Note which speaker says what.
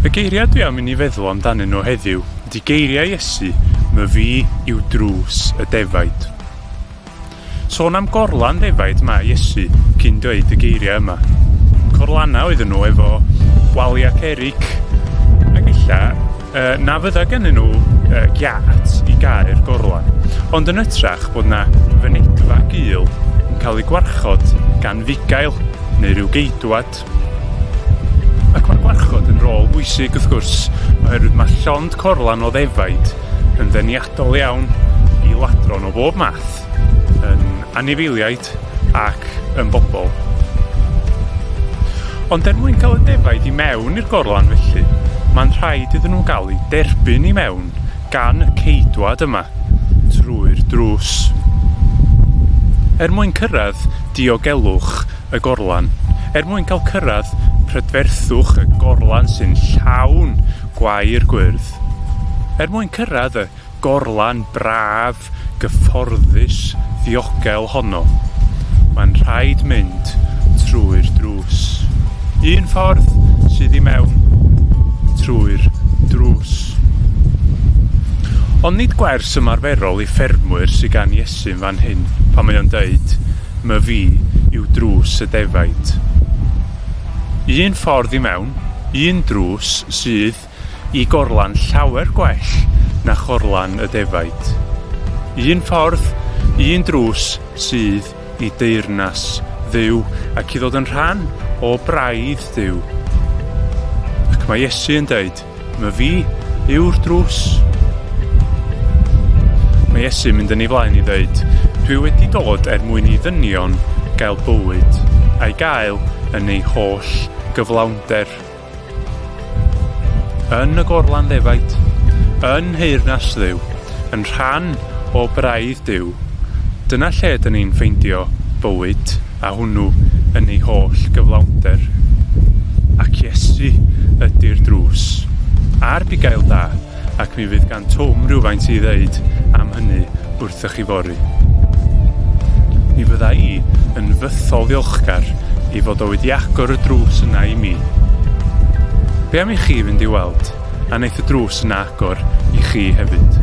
Speaker 1: Y geiriau dwi am i ni feddwl amdanyn nhw heddiw ydy geiriau Iesu, my fi yw drws y defaid. Sôn am gorlan defaid mae Iesu cyn dweud y geiriau yma. Corlanau oedden nhw efo waliau perig ac illa uh, na fydda gen nhw uh, giat i gael gorlan, ond yn ytrach bod na fynedfa gul yn cael ei gwarchod gan fugail neu rhyw geidwad. Ac mae gwarchod yn rôl bwysig wrth gwrs, oherwydd mae llond corlan o ddefaid yn ddeniadol iawn i ladron o bob math, yn anifeiliaid, byd ac yn bobl. Ond er mwyn cael y defaid i mewn i'r gorlan felly, mae'n rhaid iddyn nhw gael eu derbyn i mewn gan y ceidwad yma trwy'r drws. Er mwyn cyrraedd diogelwch y gorlan, er mwyn cael cyrraedd prydferthwch y gorlan sy'n llawn gwair gwyrdd, er mwyn cyrraedd y gorlan braf, gyfforddus, ddiogel honno. Mae'n rhaid mynd trwy'r drws. Un ffordd sydd i mewn trwy'r drws. Ond nid gwers ymarferol i ffermwyr sydd gan Iesu'n fan hyn pan mae o'n dweud, My fi yw drws y defaid. Un ffordd i mewn, un drws sydd i gorlan llawer gwell na chorlan y defaid. Un ffordd, un drws sydd i deyrnas dduw ac i ddod yn rhan o braidd dduw. Ac mae Iesu yn dweud, my fi yw'r drws. Mae Iesu mynd yn ei flaen i ddeud, dwi wedi dod er mwyn i ddynion gael bywyd, a'i gael yn ei holl gyflawnder. Yn y gorlan ddefaid, yn nheyrnas Dduw, yn rhan o braidd Duw, dyna lle dyn ni'n ffeindio bywyd, a hwnnw yn ei holl gyflawnder. Ac Iesu ydi'r drws, a'r bugail da, ac mi fydd gan Twm rywfaint i ddeud am hynny wrthych chi fory. Mi fydda i yn fythol ddiolchgar i fod o wedi agor y drws yna i mi. Be am i chi fynd i weld, a neith y drws yna agor i chi hefyd.